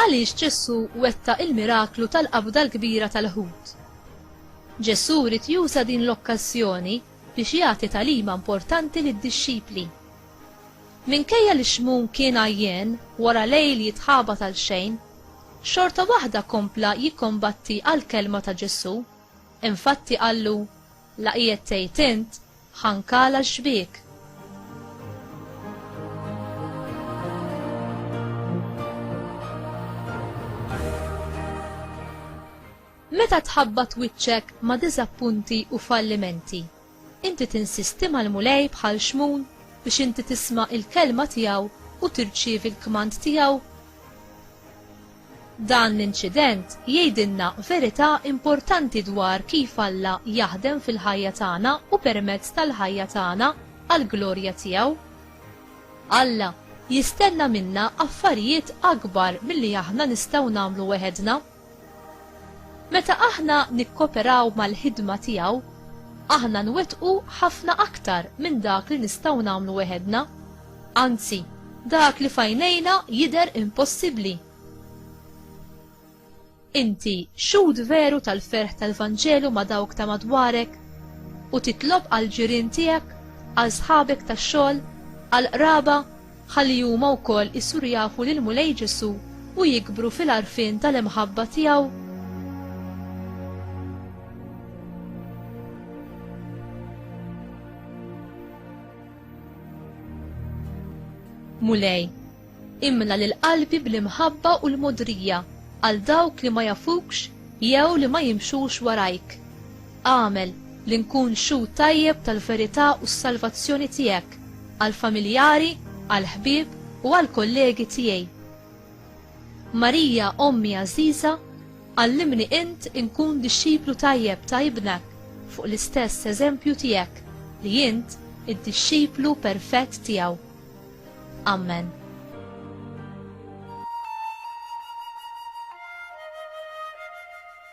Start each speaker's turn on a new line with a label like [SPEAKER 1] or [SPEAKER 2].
[SPEAKER 1] Għaliex Ġesù wettaq il-miraklu tal-qabda l-kbira tal-ħut? Ġesù ried juża din l-okkażjoni biex jagħti tagħlima importanti lid-dixxipli. Minkejja li Xmun kien għajjien wara lejl jitħabat għalxejn, xorta waħda kompla jikkombatti għall-kelma ta' Ġesù. Infatti qallu, La qiegħed tgħid int, ħankala x-xbiek! Meta tħabbat wiċċek ma' diżappunti u fallimenti, Inti tinsisti mal-Mulej bħal xmun biex inti tisma' il-kelma tiegħu u tirċievi l-kmand tiegħu? Dan l-inċident jgħidilna verità importanti dwar kif Alla jaħdem fil-ħajja tagħna u permezz tal-ħajja tagħna għall-glorja tiegħu. Alla jistenna minna affarijiet akbar milli aħna nistgħu nagħmlu weħedna. Meta aħna nikkoperaw mal-ħidma tiegħu, aħna nwettqu ħafna aktar minn dak li nistgħu nagħmlu weħedna, anzi, dak li f'għajnejna jidher impossibbli. Inti xhud veru tal-ferħ tal-Vanġelu ma' dawk ta' madwarek u titlob għall-ġirien tiegħek, għal sħabek tax-xogħol, għall-qraba, ħalli huma wkoll isiru jafu lill-Mulej Ġesù u jikbru fil-għarfien tal-imħabba tiegħu. Mulej, imla lil qalbi bl-imħabba u l-modrija għal dawk li ma jafukx jew li ma jimxux warajk. Agħmel li nkun xhud tajjeb tal-verità u s-salvazzjoni tiegħek għall-familjari, għall-ħbieb u għall-kollegi tiegħi. Marija, Ommi għażiża, għallimni int inkun dixxiplu tajjeb ta' Ibnek fuq l-istess eżempju tiegħek li int id-dixxiplu perfett tiegħu. Amen.